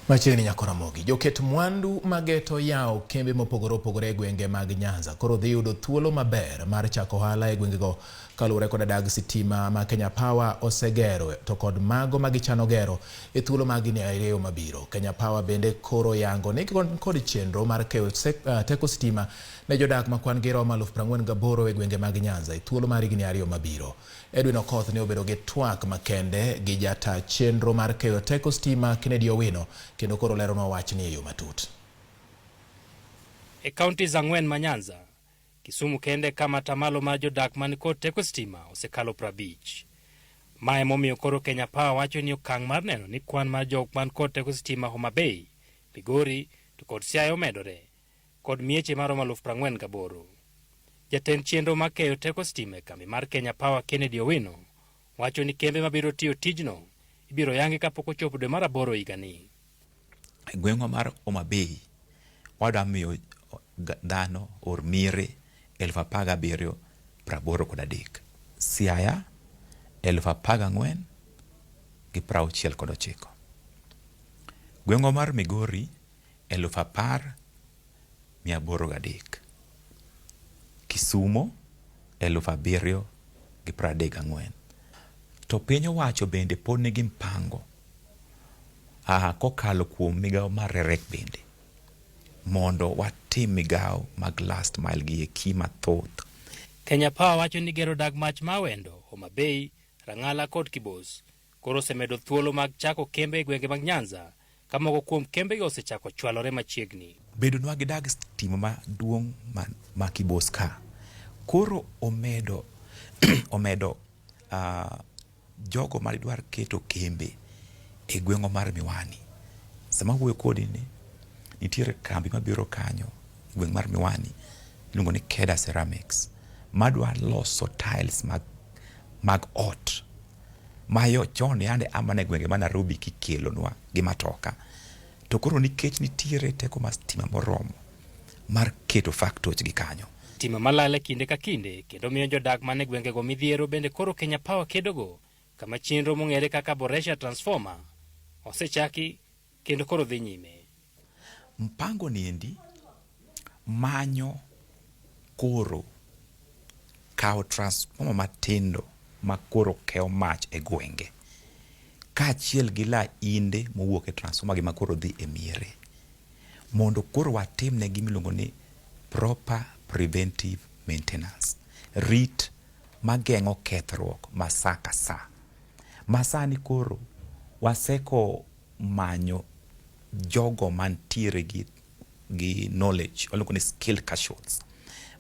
Machiegni nyako Ramogi, joket mwandu mageto yawo kembe mopogore opogore e gwenge mag Nyanza koro dhi yudo thuolo maber mar chako ohala e gwengego kaluwore koda dag sitima ma Kenya Power osegero to kod mago ma gichano gero e thuolo mag higni ariyo mabiro. Kenya Power bende koro yango ni kod chenro mar keyo uh, teko sitima ne jodak ma kwan-gi romo aluf prang'wen gaboro e gwenge mag Nyanza e thuolo mar higni ariyo mabiro. Edwin Okoth ne obedo gi twak makende gi jata chenro mar keyo teko stima Kennedy Owino kendo koro leronwa wachni e yo matut. E counties ang'wen ma Nyanza, Kisumu kende e kama atamalo mar jodak man kod teko stima osekalo prabich. Ma emomiyo koro Kenya Power wacho ni okang' mar neno ni kwan mar jok man kod teko stima Homa Bay, Migori to kod Siaya omedore kod mieche maromo aluf prang'wen gaboro. Jatend chenro ma keyo teko stima e kambi mar Kenya Power Kennedy Owino wacho ni kembe mabiro tiyo tijno ibiro yangi kapok ochopo dwe mar aboro higani. E gweng'wa mar Homa Bay wadwa miyo dhano or mire elfu apar gabiriyo praboro kod adek. Siaya elfu apar gang'wen gi prauchiel kod ochiko. Gweng'wa mar Migori Eluf apar mia aboro gi adek. Kisumo eluf abiriyo gi piero adek gang'wen. To piny owacho bende pod nigi mpango kokalo kuom migawo mar REREC bende mondo watim migawo mag last mile gi eki mathoth. Kenya Power wacho ni gero dag mach ma Awendo, Homa Bay, Rang'ala kod Kibos koro osemedo thuolo mag chako kembe e gwenge mag Nyanza ka moko kuom kembego osechako chwalore machiegni. Bedonwa gi dag stima maduong' ma, ma Kibos ka koro omedo omedo uh, jogo ma dwar keto kembe e gweng'wa mar Miwani. Sama wuoyo kodi ni nitiere kambi mabiro kanyo e gweng' mar Miwani iluongo ni Keda Ceramics madwa loso tiles mag, mag ot Mayo chon yande a mana e gwenge ma Narobi kikelonwa gi matoka. To koro nikech nitiere teko mar stima moromo mar keto factoch gi kanyo. Stima malale kinde ka kinde kendo miyo jodak man e gwengego midhiero bende koro Kenya Power kedogo kama chenro mong'ere kaka Boresha Transformer osechaki kendo koro dhi nyime. Mpango niendi manyo koro kawo transformer matindo ma koro keyo mach e gwenge kaachiel gi lainde mowuok e transformer gi ma koro dhi e miere mondo koro watim ne gimiluongo ni proper preventive maintenance. Rit mageng'o kethruok ma sa ka sa. Masani koro waseko manyo jogo mantiere gi gi knowledge waluongo ni skill casuals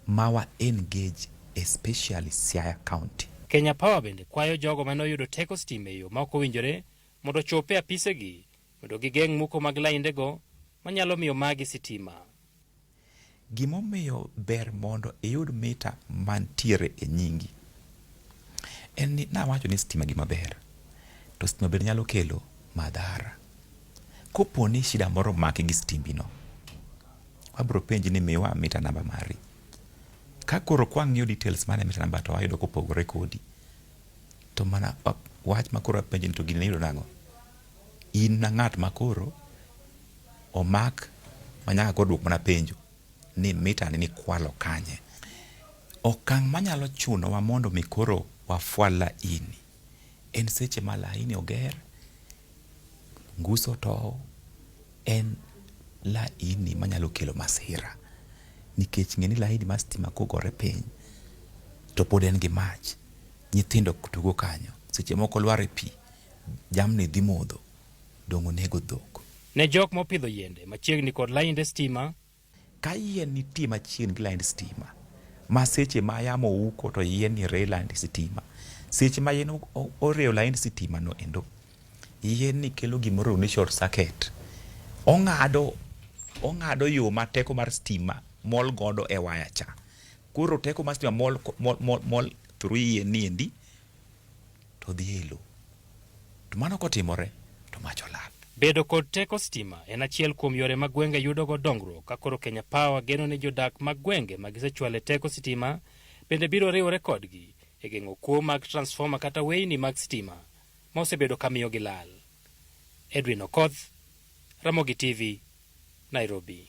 ma wa engage especially Siaya County. Kenya Power bende kwayo jogo mane oyudo teko stima e yo ma ok owinjore mondo ochop e apisegi mondo gigeng' muko mag laindego manyalo miyo magi sitima. Gimomiyo ber mondo iyud mita mantiere e nyingi en ni nawacho ni stima gima ber to stima bende nyalo kelo madhara. Kopo ni shida moro omaki gi stimbi no, abro penji ni miwa mita namba mari. Ka koro kwang'iyo details mane mita namba to wayudo kopogore kodi, to mana wach ma koro apenji ni to gini niyudo nang'o? In na ng'at ma koro omak ma nyaka koro dwok mana penjo ni mita ni nikwalo kanye. Okang' manyalo chunowa mondo mi koro wafwal laini en seche ma laini oger, ngus otow, en laini manyalo kelo masira. Nikech ng'eni laini mar stima kogore piny to pod en gi mach, nyithindo tugo kanyo, seche moko lwar e pi, jamni dhi modho. donge onego dhok. Ne jok mopidho yiende machiegni kod lainde stima. Ka yien nitie machiegni gi laind stima ma seche ma yamo uko to yien ni rey laind sitima, seche ma yien oreyo laind sitima no endo, yien ni kelo gimoro ni short circuit. Ong'ado ong'ado yo ma teko mar stima mol godo e waya cha. Koro teko mar stima mol mol mol mol through yien ni endi to odhi ei lo. To mano kotimore to mach olal. Bedo kod teko stima en achiel kuom yore ma gwenge yudogo dongruok ka koro Kenya Power geno ni jodak mag gwenge ma gisechwale teko sitima bende biro riwore kodgi e geng'o kuo mag transfoma kata weyni mag stima ma osebedo ka miyogi lal. Edwin Okoth, Ramogi TV, Nairobi.